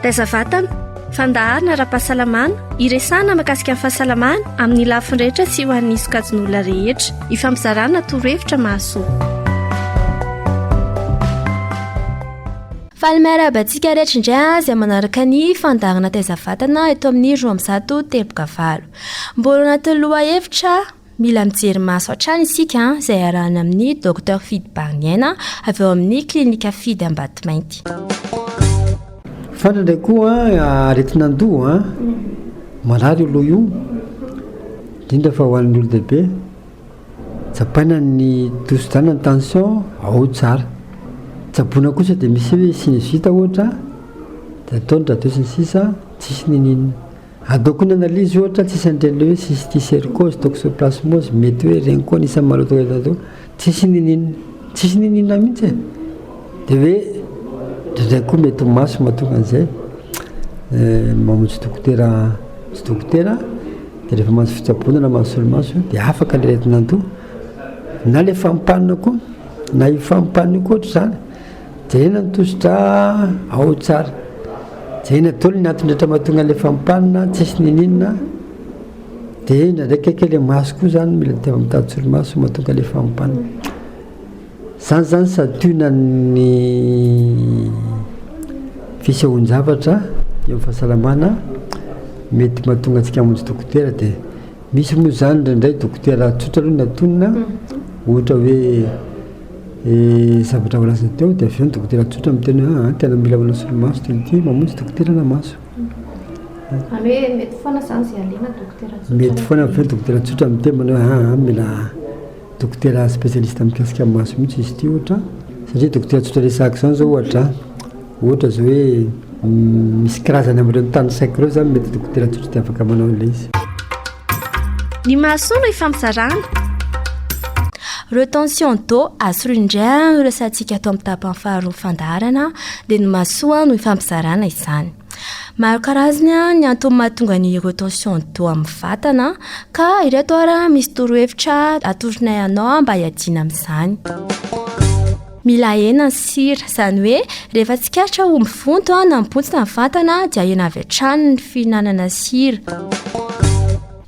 Taiza vatana, fandaharana ara-pahasalamana, iresahana makasika ny fahasalamana amin'ny lafiny rehetra sy ho an'ny sokajin'olona rehetra. Ifampizarana torohevitra mahasoa. Faly miarahaba antsika rehetra indray azy manaraka ny fandaharana taiza vatana eto amin'ny roa ambizato teboka valo. Mbola anatin'ny lohahevitra Mila mijery maso hatrany isika izay arahana amin'ny Docteur Fidy Bariniaina avy ao amin'ny Klinika Fidy Ambatomainty. Fana indray koa aretin'andoha, marary io loha io, indrindra fa ho an'ny olon-dehibe. Tsapaina ny tosidràna ny tension, ao tsara. Tsaboina kosa dia misy hoe sinusite ohatra, dia atao ny radio sy ny sisa, tsisy n'inon'inona. Ataoko ny analyse ohatra tsisy an'ireny le hoe cysticercose, toxoplasmose, mety hoe ireny koa anisan'ny maloto eto an-doha, tsisy niniana, tsisy niniana mihitsy e! dia hoe indraindray koa mety ho maso mahatonga an'izay, mamonjy dokotera, mamonjy dokotera dia rehefa mahazo fitsaboana na mahazo solomaso dia afaka le aretin'andoha, na le fampanina koa, na io fampanina io koa ohatr'izany. Jerena ny tosi-dra ao tsara. Jerena daholo ny antony rehetra mahatonga an'ilay fampanina tsisy niniana dia indraindray kaiky ilay maso koa izany mila tena mitady solomaso mahatonga ilay fampanina. Izany izany santionana ny fisehoan-javatra eo amin'ny fahasalamana mety mahatonga antsika hamonjy dokotera dia misy moa izany indraindray dokotera tsotra aloha no antonina ohatra hoe Ny zavatra voalazany teo dia avy eo ny dokotera tsotra miteny hoe ah, tena mila manao solomaso teny ity, mamonjy dokotera na maso. Zany hoe mety foana zany zay alena dokotera tsotra. Mety foana avy eo dokotera tsotra miteny manao hoe ah, mila dokotera spécialiste mikasika ny maso mihitsy izy ity ohatra, satria dokotera tsotra resahako izany zao ohatra. Ohatra izao hoe misy karazany amin'ireo tany saiko ireo izany mety dokotera tsotra dia afaka manao an'ilay izy. Ny mahasoa no ifampizarana. Retention d'eau, asolo indray ary ny resahantsika ato amin'ny tapany faharoa fandaharana dia ny mahasoa no ifampizarana izany. Maro karazany ny antony mahatonga ny retention d'eau amin'ny vatana ka ireto ary misy torohevitra atoronay anao mba hiadiana amin'izany. Mila ahena ny sira, izany hoe rehefa tsikaritra ho mivonto na mibontsina ny vatana dia ahena avy hatrany ny fihinanana sira.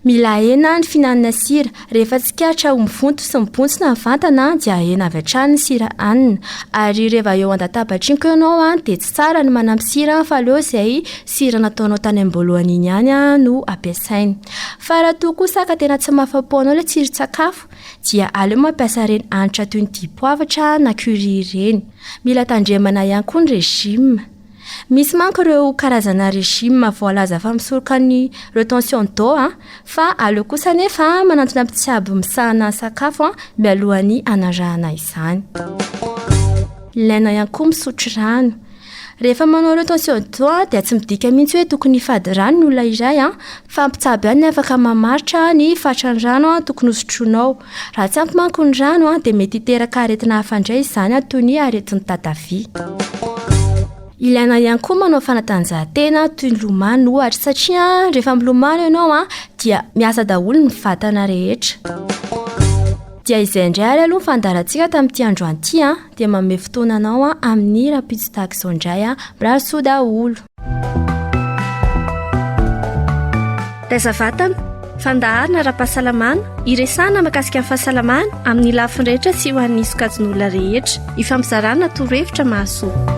Mila ahena ny fihinanana sira. Rehefa tsikaritra ho mivonto sy mibontsina ny vantana dia ahena avy hatrany ny sira anina. Ary rehefa eo an-databatry ny ianao dia tsy tsara ny manampy sira fa aleo izay sira nataonao tany am-boalohany iny ihany no ampiasaina. Fa raha toa kosa ka tena tsy mahafa-po anao ilay tsiron-tsakafo dia aleo mampiasa ireny hanitra toy ny dipoavatra na curry ireny. Mila tandremana ihany koa ny régime. Misy manko ireo karazana régime voalaza fa misoroka ny retention d'eau a, fa aleo kosa anefa manantona mpitsabo misahana ny sakafo a, mialohan'ny hanarahana izany. Ilaina ihany koa misotro rano. Rehefa manao retention d'eau dia tsy midika mihitsy hoe tokony hifady rano ny olona iray fa mpitsabo ihany no afaka mamaritra ny fatran'ny rano tokony hosotroinao. Raha tsy ampy manko ny rano dia mety hiteraka aretina hafa indray izany toy ny aretin'ny tatavia. Ilaina ihany koa manao fanatanjahantena toy ny lomano ohatra satria rehefa milomano ianao dia miasa daholo ny vatana rehetra. Dia izay indray ary aloha ny fandaharantsika tamin'ity androany ity. Dia manome fotoana anao an amin'ny hira pitsy tahaka izao indray an. Mirary soa daholo. Taiza vatana, fandaharana ara-pahasalamana, iresahana makasika ny fahasalamana amin'ny lafiny rehetra sy ho an'ny sokajin'olona rehetra. Ifampizarana torohevitra mahasoa.